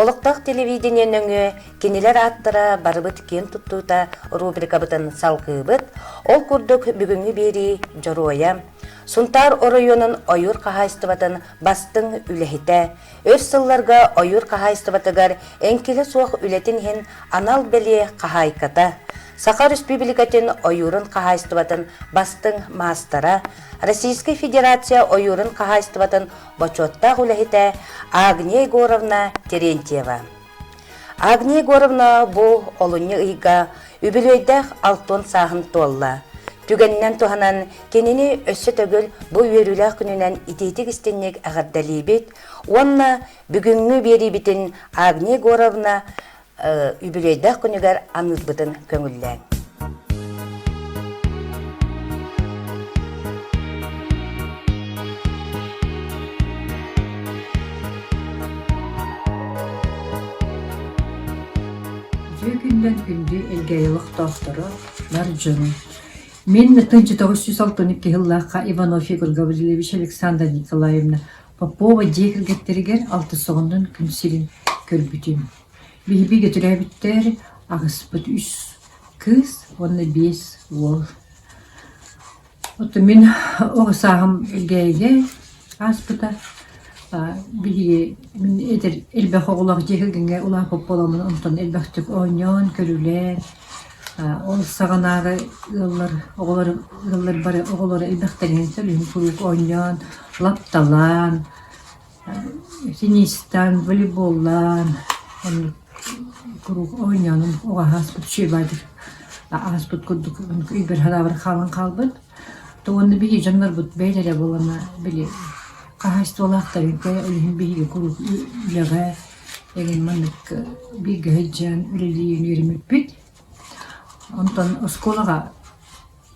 Олохтоох телевидение нөҥүө кинилэр ааттара барыбыт киэн туттуута рубрикабытын салгыыбыт, ол курдук бүгүҥҥү биэрии дьоруойа, Сунтаар оройуонун ойуур хаһаайыстыбатын бастыҥ үлэһитэ, өр сылларга ойуур хаһаайыстыбатыгар эҥкилэ суох үлэтин иһин анал бэлиэ хаһаайката, Саха Республикатын ойуурун хаһаайыстыбатын бастыҥ маастара, Российскай Федерация ойуурун хаһаайыстыбатын бочуоттаах үлэһитэ Агния Егоровна Терентьева. Агния Егоровна бу олунньу ыйга үбүлүөйдээх алтон сааһын туолла. Түгэнинэн туһанан кинини өссө төгүл бу үөрүүлээх күнүнэн итиитик-истинник эҕэрдэлиибит уонна бүгүҥҥү биэриибитин Агния Егоровна үбүлүөйдээх күнүгэр аныырбытын көҥүллээн. Дьиэ күннэн күндү илгэйи олохтоохторо, бар дьону. Мин 1962 сыллаахха Иванов Егор Гаврилевич Александровна Николаевна Попова дьиэ кэргэттэригэр алтысоҕуннан күн сирин көрбүтүм. Биһиги Бөтөрөөбүттэр аҕыспыт үс кыыс уонна биэс уол. Оттон мин оҕо сааһым Эгээйигэ ааспыта. Биһиги мин эдэр элбэх оҕолоох дьиэ кэргэҥҥэ улахан Попполоммун онтон элбэхтик оонньоон, көрүлээн, Ол саҕанааҕы ыаллар оҕолор ыаллар бары оҕолоро элбэхтэринэн сөлүһүн куруук оонньоон, лапталаан, теннистаан, волейболлаан оннук куруук оонньоонум оҕо ааспыт шибадир ааспыт курдук өйбөр санаабар хаалан хаалбыт. То уонна биһиги дьоннорбут бэйэлэрэ буоллана били хаһаайыстыбалаахтарын кыайа үлэһин биһиги куруук үлэҕэ Эйигин маннык бииргэ сылдьан үлэлиир үөрэммиппит. Онтон оскуолаҕа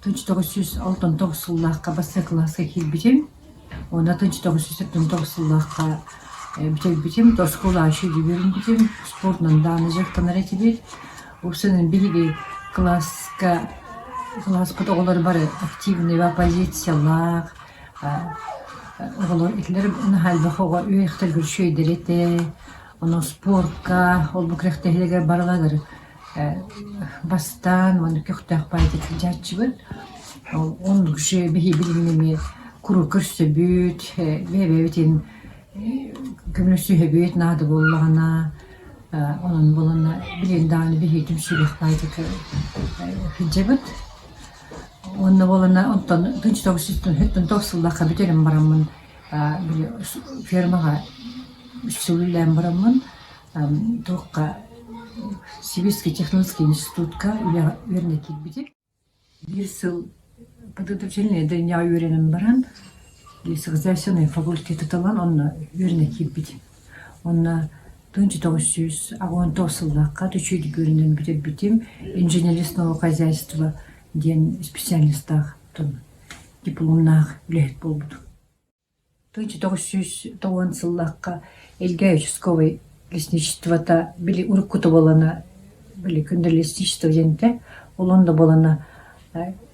тынч тоҕус сүүс алтан тоҕус сыллаахха бастакы кылааска киирбитим. Уонна тынч тоҕус сүүс алтан тоҕус сыллаахха бүтэрбитим. Оскуола еще үөрэммитим. Спортунан даҕаны дьарыктанар этибит. Ол санаан биһиги кылааска кылааспыт оҕолоро бары активнайга позициялаах Оҕолор итилэр наһаайдах оҕо үөһэттэргэр үчүгэйдэри ону спортка, ол бу күрэхтэһиилэргэ барыларыгар бастаан манна көхтөөх баайыта сылдьааччыбыт. Оннук үчүгэй биһиги билигин эмиэ куруук көрсөбүт, бэйэ-бэйэбит иһин көмөлөсүһэбит наада буоллаҕына онон буоланна билигин даҕаны биһиги түмсүүлээх баайытыкка сылдьабыт. Уонна буолана онтон тоҕус сыллаахха бүтэрэн бараммын били фермаҕа үс сыл үлэлээн бараммын туохха сибирский технологский институтка үөрэнэ киирбитим. Биир сыл подготовительнай дальняҕа үөрэнэн баран хозяйственнай факультеты талан онно үөрэнэ киирбитим. Уонна тыынча тоҕус сүүс уонтоҕус сыллаахха Түчүт үкүөрүнэн бүтэрбитим инженерис наука хозяйство диэн специалистаах дипломнаах үлэһит буолбутум. Тыынча тоҕус сүүс уон сыллаахха Эльгай участковай лесничествота били уруккута буолана били кундалистичество диэнтэ олоон да буолана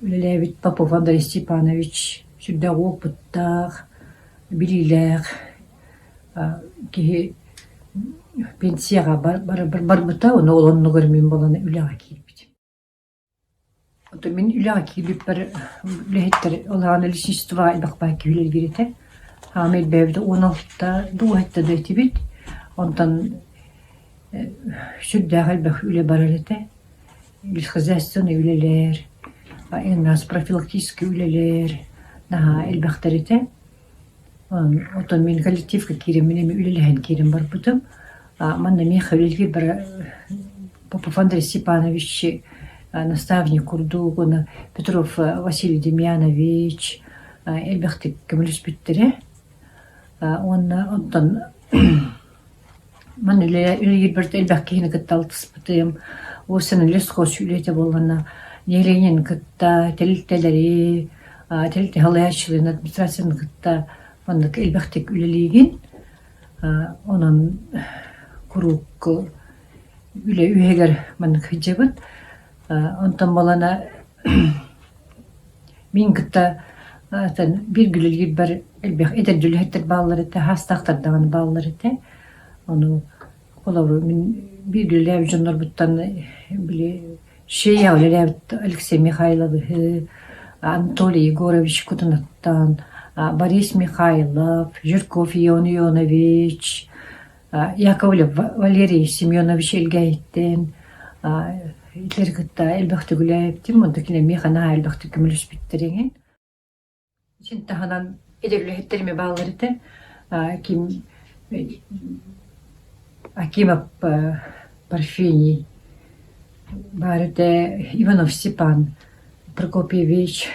үлэлээбит Попов Андрей Степанович сүрдээх уопуттаах, билиилээх Киһи пенсияҕа барбыта, ону ол оннугар мин буолан үлэҕэ киирбитим. Ото мин үлэҕэ киирбиппэр үлэһиттэр улахан лесистство айбахпаан киһи үлэлиир этэ. Хаама ирбээбитэ уон алтыста дууһатта да этибит. Онтон сүрдээх элбэх үлэ барар этэ. Лесхозяйственнай үлэлэр, военноос-профилактическай үлэлэр наһаа элбэхтэр этэ. Оттон мин коллективка киириммин эмиэ үлэлэһэн киирэн барбытым. Манна эмиэ хавель киирбэрэ Попофандр Степановичи, наставник курдук уонна Петров Василий Демьянович элбэхтик көмөлөспүттэрэ. Уонна оттон Ман үлэҕэ үлэлиирбэр да элбэх киһини кытта алтыспытым. Ол син үлэ скотч үлэ этэ буолланна, нэһилиэнньэни кытта тэрилтэлэри, тэрилтэ салайааччыларын администрацияны кытта маннык элбэхтик үлэлиигин. Онон куруук үлэ үөһүгэр маннык сылдьабын. Онтон буолан мин кытта биир күлүлүүрбэр элбэх эдэрдии үлэһиттэр бааллар этэ, саастаахтар даҕаны бааллар этэ. Ону холобур мин биирдии үлэлээбит дьоннорбуттан били Шея үлэлээбит Алексей Михайловиһы, Анатолий Егорович Кутунаттан, Борис Михайлов, Жирков Ион Ионович Яков Валерий Семенович илгээһиттэн итилэри кытта элбэхтик үлээбитим, онно кини миэхэ наһаа элбэхтик көмөлөспүттэр иҥин. Итин таһынан итир үлэһиттэр эмиэ бааллар этэ. Ким Акимов Парфений баар этэ, Иванов Степан Прокопьевич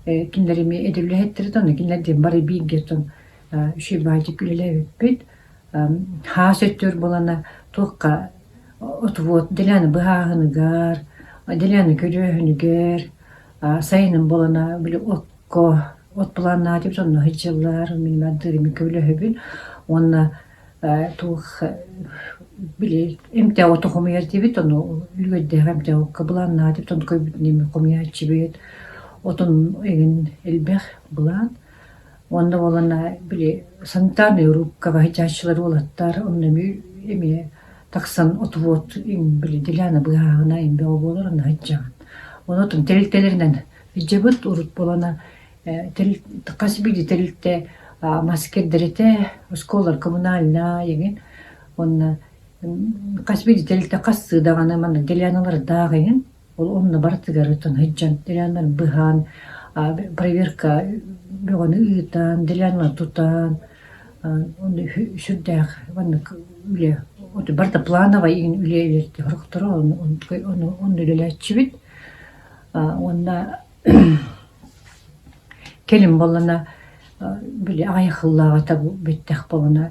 кинилэр эмиэ итир үлэһиттэр этэ, онно кинилэр диэн бары бииргэ Үчүгэй баантик үлэлээбиппит. Хаас өттүгэр буолана туохха отвод Деляна быһааһыныгар, Деляна көрөөһүнүгэр сайынын буолана били окко от планнаатыт онно сылдьаллар. Мин мындыырымын көбүлөһөбүн уонна туох били эмтэ оту хомуйардибит ону үлүгэрдээхи эмтэ окко былааннаатыт ону көрбүтүн эмиэ хомуйааччыбыт. Отун игин элбэх былаан Уонна уолана били Сантааны урукка баһыйааччылар уолаттар онно эмиэ эмиэ тахсан отвод им били Диляна быыһааҕына им бөҕө буолар онно сылдьабын. Ол отун тэрилтэлэринэн сылдьабыт урут буолана ээ хас биирдии тэрилтэ аа мас кэрдэритэ, оскуолалар коммунальнай эҥин уонна хас биирдии тэрилтэ хастыы даҕаны маннык Диляналардаах эҥин Ол онно барытыгар сылдьан деляннары быһаан, проверка бөҕөнү ыытан, делянаны тутан сүрдээх маннык үлэ барыта плановай үлэ идэтитэ сорохторо онно үлэлээччибит уонна кэлин буоллана били аҕыйах сыллааҕыта бүттэх буолана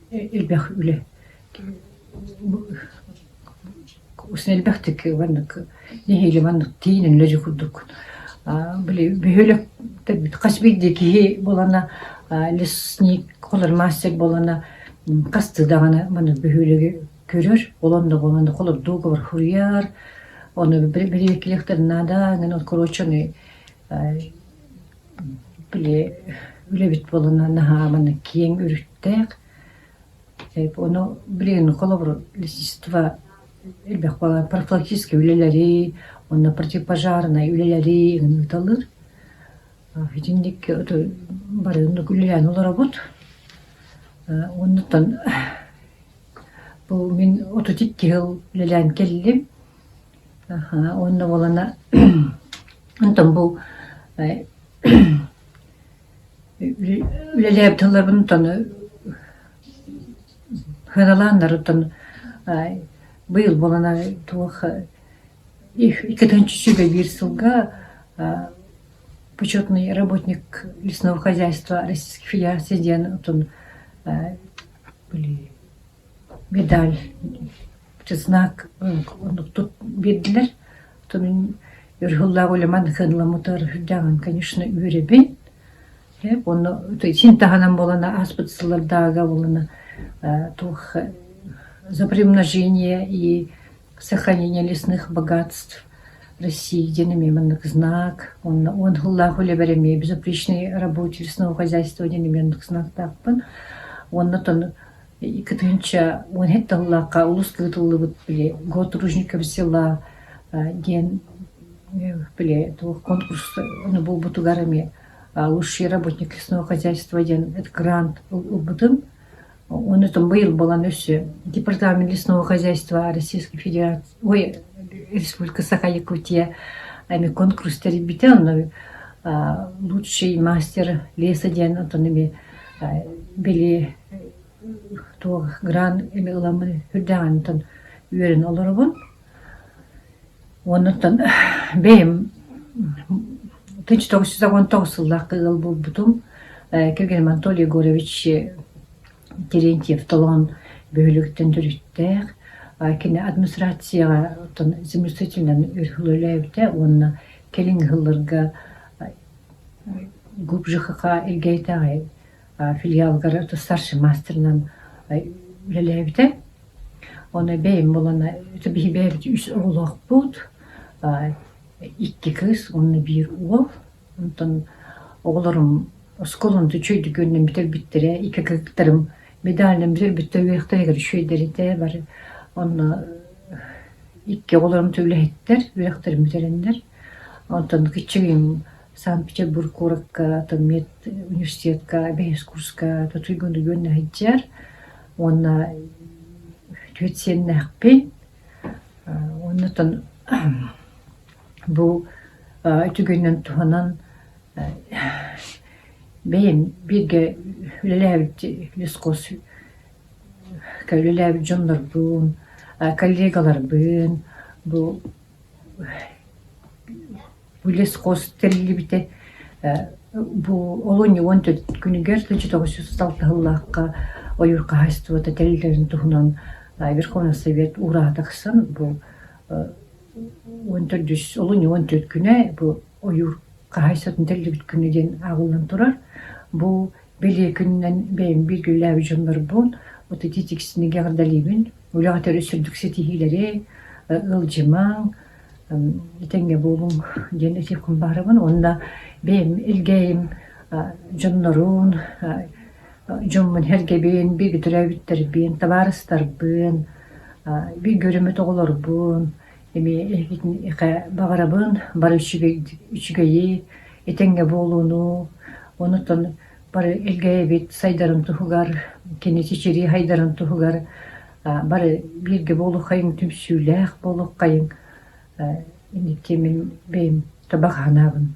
Элбэх үлэ элбэхтик маннык нэһиилэ маннык тиийинэн үлэ дьэ курдук били бөһүөлэктэрбит хас биирдии киһи буолана лесник холор мастер буолана хастыы даҕаны маннык бөһүөлэги көрөр ол онно онно холордуугабар суруйар ону били бэлиэтииллэхтэринэ наада короче аны Били үлэбит буоланнар наһааман киэҥ өрүттээх. Ону билигин холобур лесистство элбэх буолан профилактическай үлэлэри, онно противопожарнай үлэлэри ыыталыыр. Итинник бары оннук үлэлээн олоробут. Оннуттан бу мин отут икки сыл үлэлээн кэллим. Аха, уонна буолана онтон бу үлэлээбит тылларбын сыаналааннарыттан быйыл буолана туох иккитинчи биир сылга почетный работник лесного хозяйства Российской Федерации диэн отун медаль Чеснок оннук тут биэрдилэр. Тунун ырыһыллаах улеман кыһынламмытыгар сылдьаҕын, конечно, үөрэбин. Эп онно син таһынан буолана ааспыт сыллардааҕыга буолана туох запрямножение и сохранение лесных богатств России диэн эмиэ маннык знак уонна уон сыллаах үлэбэр эмиэ безупречный рабочий лесному хозяйство диэн эмиэ оннук знактаахпын. Уонна тону Иккитинчэ уон эһэ тыллаахха олус ыытыллыбыт били Год ружников дела диэн били туох конкурс буолбутугар эмиэ лучший работник лесного хозяйства диэн грант ылбытым. Ону там быйыл булан өссө департамент лесного хозяйства Российской Федерации ой Республика Саха Якутия эми конкурс тэрийбитэ онно лучший мастер леса диэн оттон эми били Туох грант или ыламмын үрдээҕинтэн үөрэнэ олоробун. Оннуттан бэйэм тыйынча тоҕус жүз уон тоҕус сыллаахха ыал буолбутум. Кэргэним Анатолий Егорович Терентьев Толоон бөһүөлэгиттэн төрүттээх. Кини администрацияҕа заместительынан үлэлээбитэ уонна кэлиҥҥи сылларга глубже ХХ Элгээйитээҕи филиалыгар старший маастарынан үлэлээбитэ. Ону бэйэм буолан биһи бэйэбит үс оҕолоохпут, икки кыыс уонна биир уол. Онтон оҕолорум оскуолам да үчүгэйдик үөрэнэн бүтэрбиттэрэ, икки кыргыттарым медальынан бүтэрбиттэр үөрэхтэригэр үчүгэйдэритэ бары. Онно икки оҕолорум да үлэһиттэр, үөрэхтэрин бүтэрэннэр. Онтон кичигим Санкт-Петербург куоракка Томмет университетка бэһиэскурска тутуйга үндүгүннэ сылдьар уонна түһүт сиэннээхпин оннуттан бу үтүгүнэн туһанан бэйэм бииргэ үлэлээбит лесхоз үлэлээбит дьоннорбун коллегаларбын бу лесхоз тэриллибитэ бу олунньу уон төрт күнүгэр тысяча тоҕус жүз алтыһыллаахха ойуур хаһаайыстыбата тэриллэрин туһунан Верховный Совет уураһа тахсан бу уон төрт жүз олунньу уон төрт күнэ бу ойуур хаһаайыстыбатын тэриллибит күнэ диэн ааҕыллан турар. Бу Билии күнүнэн бэйэм бииргиллээби дьоннорбун, вот эти тиксиниги эҕэрдэлиибин, үлэҕэ төрүт сүрдүк ситиһиилэри, ыалдьымаҥ, этэҥҥэ буолуҥ диэн этиэххин баҕарабын уонна бэйэм илгээйим дьоннорун, дьоммун, эргэбин, бииргэ төрөөбүттэрбин, табаарыстарбын, бииргэ өрүммүт оҕолорбун Эмиэ эһигитинхэ баҕарабын бары үчүгэйи, этэҥҥэ буолууну, онутан бары элгэйэбит сайдарын туһугар, кини чэчирии хайдарын туһугар бары бииргэ буолуоххайыҥ, түмсүүлээх буолуоххайыҥ. Инники мин бэйэм табах аһынаабын.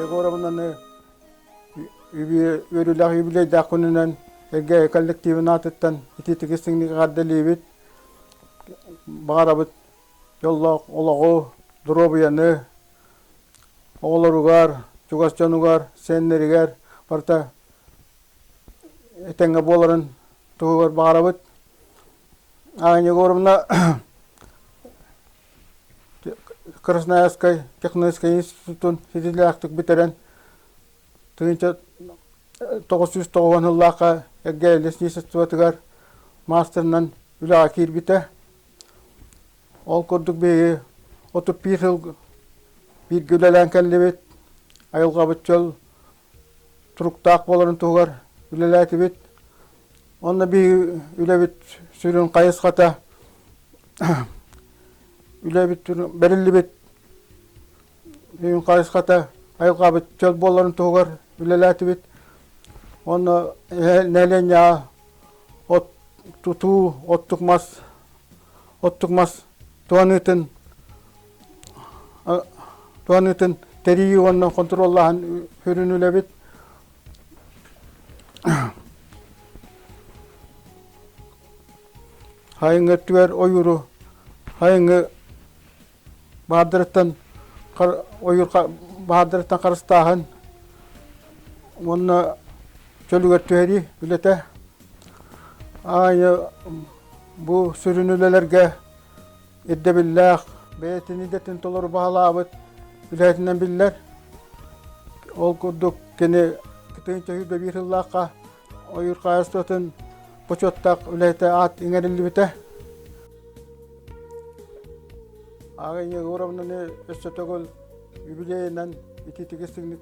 Егоровнаны үөрүүлэх юбилейдаах күнүнэн эргэ коллективин аатыттан ити тигис тиҥнигаҕардалиибит баҕарабыт дьоллоох олоҕу доруобуйаны оҕолоругар чугас дьонугар сиэннэригэр барыта этэҥҥэ буоларын туһугар баҕарабыт Аня Егоровна Красноярскай техническэй институтун ситиилээхтик бүтэрэн тыһыынча тоҕус сүүс тоҕуон сыллаахха Эргэй лесничествотыгар маастарынан үлэҕэ киирбитэ. Ол курдук биһиги отут биир сыл бииргэ үлэлээн кэллибит, айылҕабыт чөл туруктаах буоларын туһугар үлэлээтибит. Онно биһиги үлэбит сүрүн хайысхата үлэбит бэриллибит үйүн хайысхата айылҕабыт чөл буоларын туһугар үлэлээтибит. Онно нэлиэнньэ от тутуу, оттук мас, оттук мас туһаныытын туһаныытын тэрийии уонна хонтуруоллааһын сүрүн үлэбит хайыҥы өттүгэр ойууру хайыҥы баардырыттан ойуур баардырыттан харыстааһын уонна чөлүгэр түһэрии үлэтэ аайы бу сүрүн үлэлэргэ ирдэбиллээх бэйэтин идэтин толору баһылаабыт үлэһитинэн биллэр. Ол курдук кини кытын көһүүрбэ биир сыллаахха ойуур хаһаайыстыбатын бочуоттаах үлэһитэ аат иҥэриллибитэ. Ааҕа Егоровнаны өссө төгүл юбилейынан ититиги сыгнык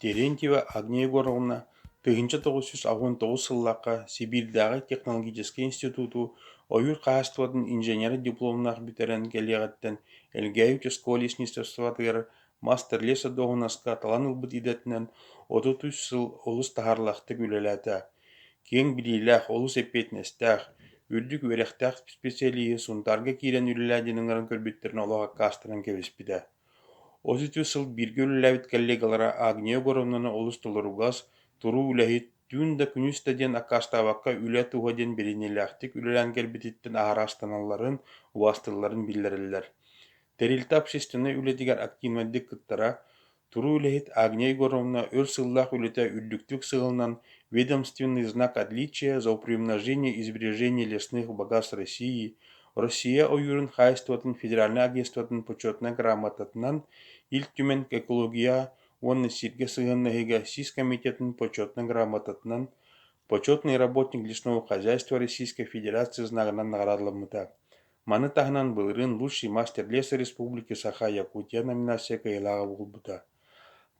Терентьева Агния Егоровна тыһыынча тоҕус сүүс алҕан тоҕус сыллаахха Сибиирдээҕи технологическай институту ойуур хаһаайыстыбатын инженера дипломнаах бүтэрэн кэлиэҕиттэн Элгээй учаскуга лесництвоотыгар мастер-лесодуоһунаска талан ылбыт идэтинэн отут үс сыл олус таһаарылаахтык үлэлээтэ. киэҥ билиилээх, олус эппиэтинэстээх, үрдүк үөрэхтээх исписэлииһи Сунтаарга киирэн үлэлээдьиниҥҥэр көрбүттэринэ олох аккаастанан кэбиспитэ. Отус үс сыл бииргэ үлэлээбит коллегалара Агния Егоровнаны олус толоругас, туруу үлэһит, түүн да күнүс да диэн аккаастаабакка үлэ туһа диэн бэриниилээхтик үлэлээн кэлбититтэн аһара астыналларын, убаастыылларын биллэрэллэр. Тэрилтэ общественнай үлэтигэр активнайдык кыттара, Туруу үлэһит Агния Егоровна өр сыллаах үлэтэ үрдүктүк сыһылынан «Ведомственный знак отличия за упрежнение и сбережение лесных богатств России Россия ойуурун хаһаайыстыбатын федеральнай агентствотын почетнай грамотатынан Ил Түмэн экология уонна сиргэ сыһыаннаһыыга сис комитетын почетнай грамотатынан «Почетный работник лесного хозяйства Российской Федерации» знагынан наҕараадаламмыта Маны таһынан былырыын «Лучший мастер леса республики саха Якутия» номинация кыайыылааҕа буолбута.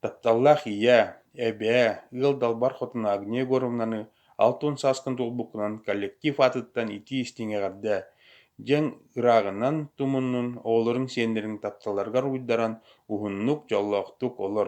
Тапталлаах ийээ, эбээ, ыал далбар хотуна Агния Егоровнаны алтын сааскын туолбуккунан коллектив аатыттан итии-истиҥ эҕэрдэ! диэн ырааҕынан тумуннун, оҕолоруҥ-сиэннэриҥ тапталларыгар уйдаран уһуннук, дьоллоохтук олор.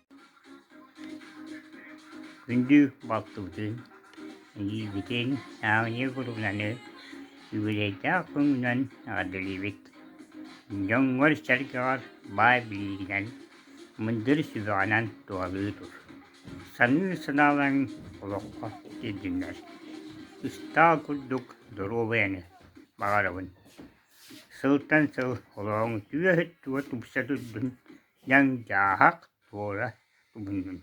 Күндү балтыбытын, илиибитин Ааньа Гуруганы үбүлэйдээх көҥүлүнэн эҕэрдэлиибит! Дьоҥҥор-сэргэҕэр баай билиигинэн, мындыр сүбэҕинэн туһалыы тур. Саныы санаалаҥ олоххо киирдиннэр. Ыстаал курдук доруобуйаны баҕарабын. Сылтан сыл олоҕуҥ түөһүттуга тупса турдун, Дьаҥ дьааһык туора тумуннун,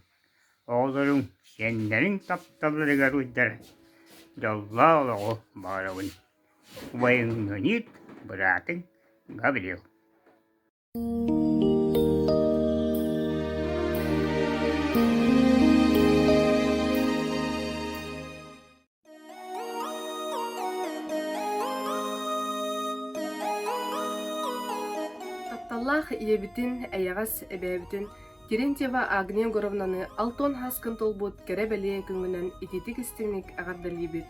оҕолоруҥ сиэннэриҥ тапталларыгар уйдар, дьоллоох олоҕу баҕарабын, убайыҥҥыниит быраатыҥ Гаврил Тапталлаах ийэбитин, эйэҕэс эбээбитин Терентьева Агния Егоровнаны алтан хаскын толбут кэрэ-бэлиэ күҥҥүнэн итиитик-истиҥник эҕэрдэлиибит.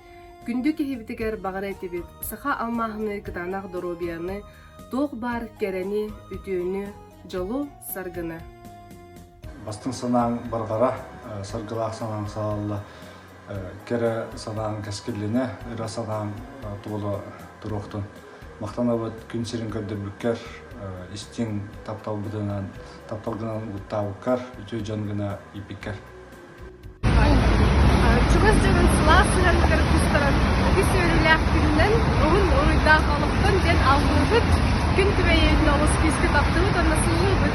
Күндү киһибитигэр баҕара этибит саха алмааһыны кытаанах доруобуйаны, туох баар кэрэни, үтүөнү, дьолу, саргыны. Бастыҥ санааҥ барҕара, саргылаах санааҥ саҕалла. Кэрэ санааҥ кэскиллинэ, ыра санааҥ туола туруохтун. Махтанабыт күн сирин көрдөрбүккэр, истиҥ тапталбытынан, таптал гынан угуттаабыккар, үтүө дьон гына ииппиккэр. Чугас дьонун сылаас сыһыаныгар кустаран үгүс үөрүүлээх күнүнэн уһун уруйдаах олохтон диэн алгыһбыт күн күбэйиэтин олус күүскэ таптыбыт уонна сууллуйбут.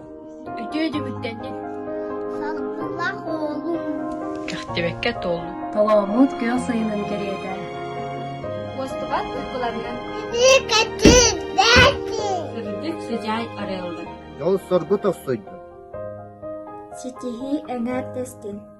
Үтүө дьүһүттэн дии. Салгыннаах оҕолуум. Кэхтибэккэ туоллу. Толооммут күөх сайынын кэриэтэ. Уостубат уйгуларга. Итии кэтин, дэти. Сырдык сыдьаай арыаллы. Дьол соргу тохсуйдун. Ситиһии эҥээр тэстин.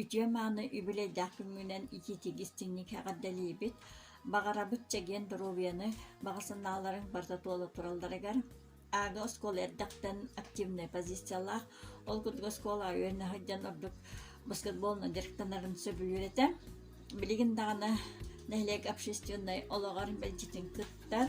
үтүө-мааны үбүлэйдээх күҥҥүнэн итиитик истиҥник эҕэрдэлиибит, баҕарабыт чэгиэн доруобуйаны, баҕа санааларыҥ барыта туола туралларыгар. Аага оскуола эрдэхтэн активнай позициялаах, ол курдук оскуола үөрэнэ сылдьан ордук баскетболунан дьарыктанарын сөбүлүүр этэ. Билигин даҕаны нэһилиэк общественнай олоҕор мэлдьитин кыттар,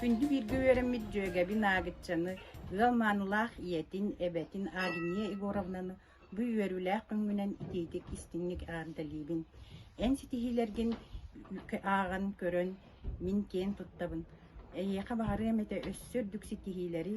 Күндү бииргэ үөрэммит дьүөгэбин Аагыччаны, ыал маанылаах ийэтин, эбэтин Агния Егоровнаны бу үөрүүлээх күҥҥүнэн итиитик истиҥник эҕэрдэлиибин. Эн ситиһиилэргин ааҕан көрөн, мин киэн туттабын. Эйиэхэ баҕарыам этэ өссө үрдүк ситиһиилэри,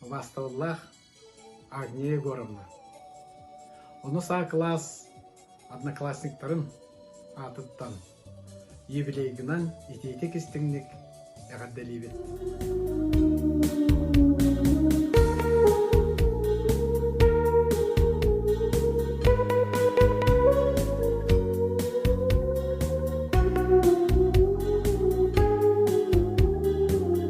Властоллах Агния Егоровна. Ону саа кылаас однокласниктарын аатыттан юбилейгынан итиитик истиҥник эҕэрдэлиибит.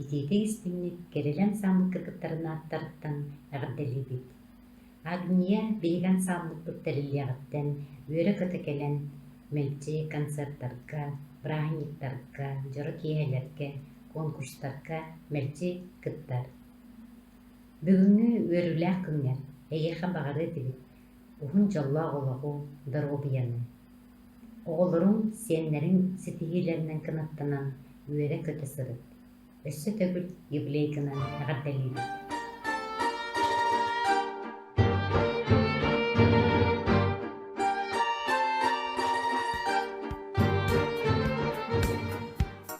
Итиитэ-истиҥник кэрэлэн сааммыкка кыттарын ааттарыттан эҕэрдэлиибит! Агния биһиги ансаамбыппыт тэриллиэҕиттэн үөрэ-көтө кэлэн мэлдьи концертарга, бырааһынньыктарга, дьоро киэһэлэргэ, конкурстарга мэлдьи кыттар. Бүгүҥҥү үөрүүлээх күҥҥэр эйиэхэ баҕарыа этибит уһун дьоллоох олоҕу, доруобуйаны! Оҕолорум сиэннэрин ситиһиилэринэн кынаттанан үөрэ-көтө сырыт, өссө төгүл юбилейканан эҕэрдэлиибит!